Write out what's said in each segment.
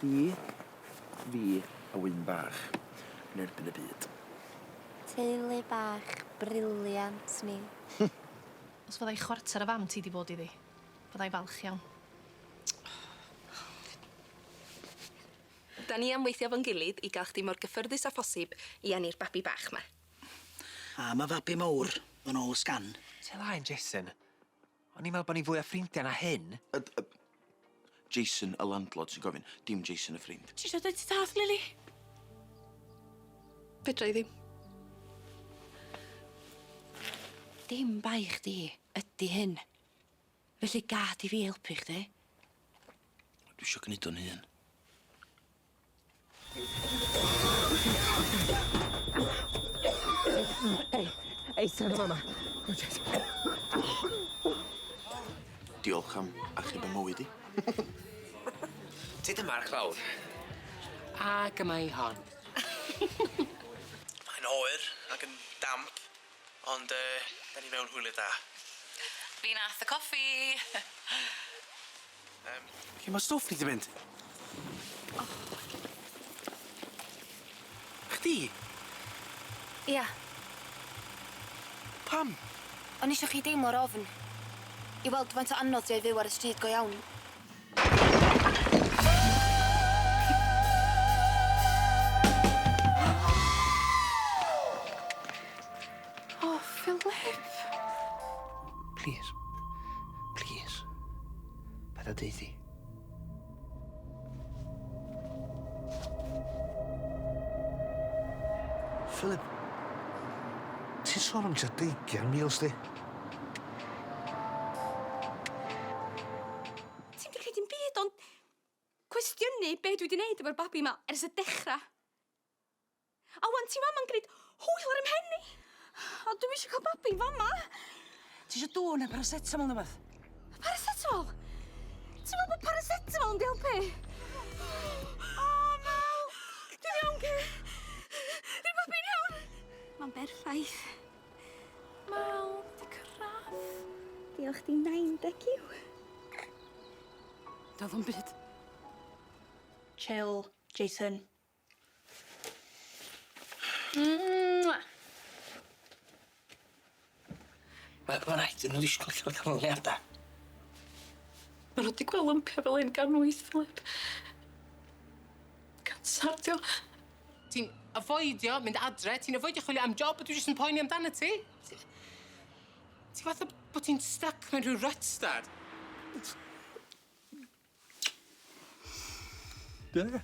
Chdi, fi a Wyn bach yn erbyn y byd. Teulu bach brilliant ni. Os fyddai chwarter o fam ti 'di bod iddi, fyddai falch iawn. Da ni am weithio 'fo'n gilydd i gael chdi mor gyffyrddus â phosib i eni'r babi bach 'ma. A ma' fabi mowr yn ôl y sgan. Tel 'aen Jesyn. O'n i'n meddwl bod ni'n fwy o ffrindiau na hyn. Y- y- Jason y landlord sy'n gofyn, dim Jason y ffrind. Ti isio deud ti dallt, Lili? Fedra i ddim. Dim bai chdi ydi hyn. Felly gad i fi helpu chdi. Dwi isio gneud o'n hun. Ei, ei, sir yma, ma. Diolch am achub y mywyd i. Ti dy marc lawr. A gyma i hon. Mae'n oer ac yn damp, ond yy, da ni mewn hwyliau da. Fi nath y coffi. Yym lle ma' stwff ni di mynd? O! Chdi? Ia. Pam? O'n i isio chi deimlo'r ofn. I weld faint o anodd 'di o i fyw ar y stryd go iawn. O, Phillip! Plîs. Plîs. Paid â deud 'thi. Phillip. Ti'n sôn am tua deugian mil sti. Ti'm 'di gneud dim byd ond cwestiynu be' dwi 'di neud efo'r babi 'ma ers y dechra. A wan ti fama'n gneud hwyl ar 'y mhen i! O dwi'm isio ca'l babi fama! Tisio dŵr ne' paracetamol ne' wbath? Paracetamol? Ti'n me'wl bo' paracetamol mynd i elpu? O! O Mel! Dwi'n iawn Kay. Fydd babi'n iawn. Ma'n berffaith. Mel, di cyrradd. Diolch di nain deciw. Do'dd o'm byd. Chill, Jason. Mwah! Mae ma' raid i ni wisgo lle ma' canlyniada. Ma' nw 'di gwel' lympia fel 'yn gan wyth flip. Cancer 'di o. Ti'n afoidio mynd adre, ti'n afoidio chwilio am job, a dwi jyst yn poeni amdanat ti. Ti ti fatha bo' ti'n styc mewn rhyw ryt, dad. Dyna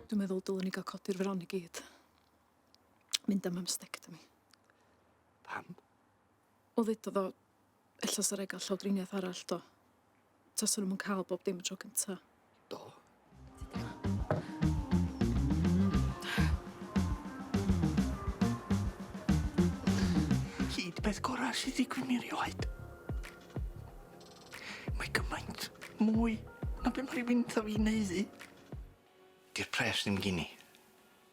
Dwi'n meddwl dylwn ni gael codi'r fron i gyd. Mynd am amstectomi. Pam? O ddedodd o, ella sa raid gael llawdriniaeth arall, do. Tasa nhw'm yn cael bob dim y tro cynta. Do. Hyd peth gorau sydd i gwni rioed. Mae gymaint mwy na beth mae rhywun tha fi'n ei ddi. Di'r pres ddim gini.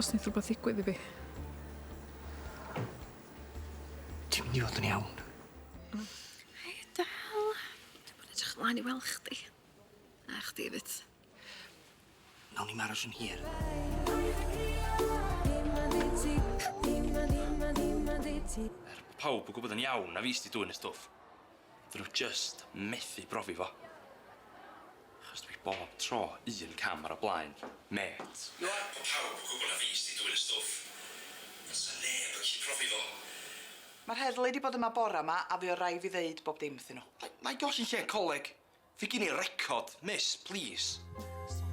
Os neith rhywbeth ddigwydd i fi. Ti'n mynd i fod yn iawn. Hei, Del. Dwi bod edrych ymlaen i weld chdi. A chdi efyd. Nawn ni'm aros yn hir. Er bo' pawb yn gwbod yn iawn na fi sy 'di dwyn y stwff, 'dyn nw jyst methu brofi fo. Achos dwi bob tro un cam ar y blaen, mêt. Nawr bod pawb yn gwybod na fi sy 'di dwyn y stwff, fysa neb yn gallu profi fo. Mae'r heddlu 'di bod yma bore 'ma a fuodd rai' fi ddeud bob dim wrthyn nhw. Nai- nai golli lle coleg fi gin i record, miss, plîs. Sori.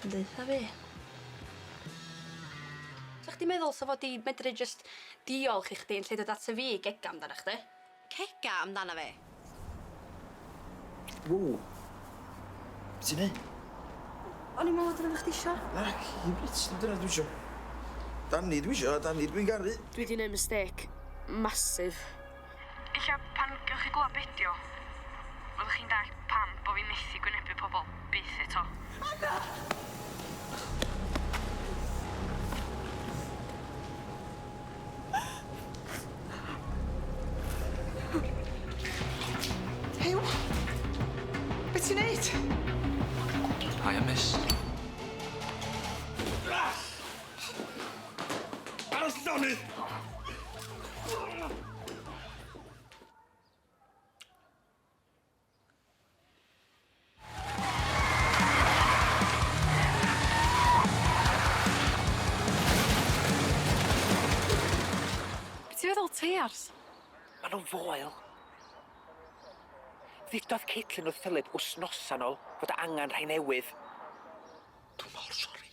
Ti'n deutha fi? Sa chdi meddwl sa fo 'di medru jyst diolch i chdi yn lle dod ata fi i gega amdana chdi? Cega amdana fi? Wow. Be' ti'n neu'? O'n i'n me'wl dyna be' chdi isio. Naci dim byd dim dyna dwi isio. Dani dwi isio a Dani dwi'n garu. Dwi 'di neu' mistake massive. Ella pan gewch chi glywed be dio, fyddwch chi'n dallt pam bo fi methu gwynebu pobl byth eto. O na! Huw! Be ti'n neud? Hiya miss. Ar y llonydd! Be' ti'n feddwl, teiars? Ma' nw'n foel. Ddudodd Caitlin wrth Phillip wsnosa'n ol fod angan rhai newydd. Dw mor sori.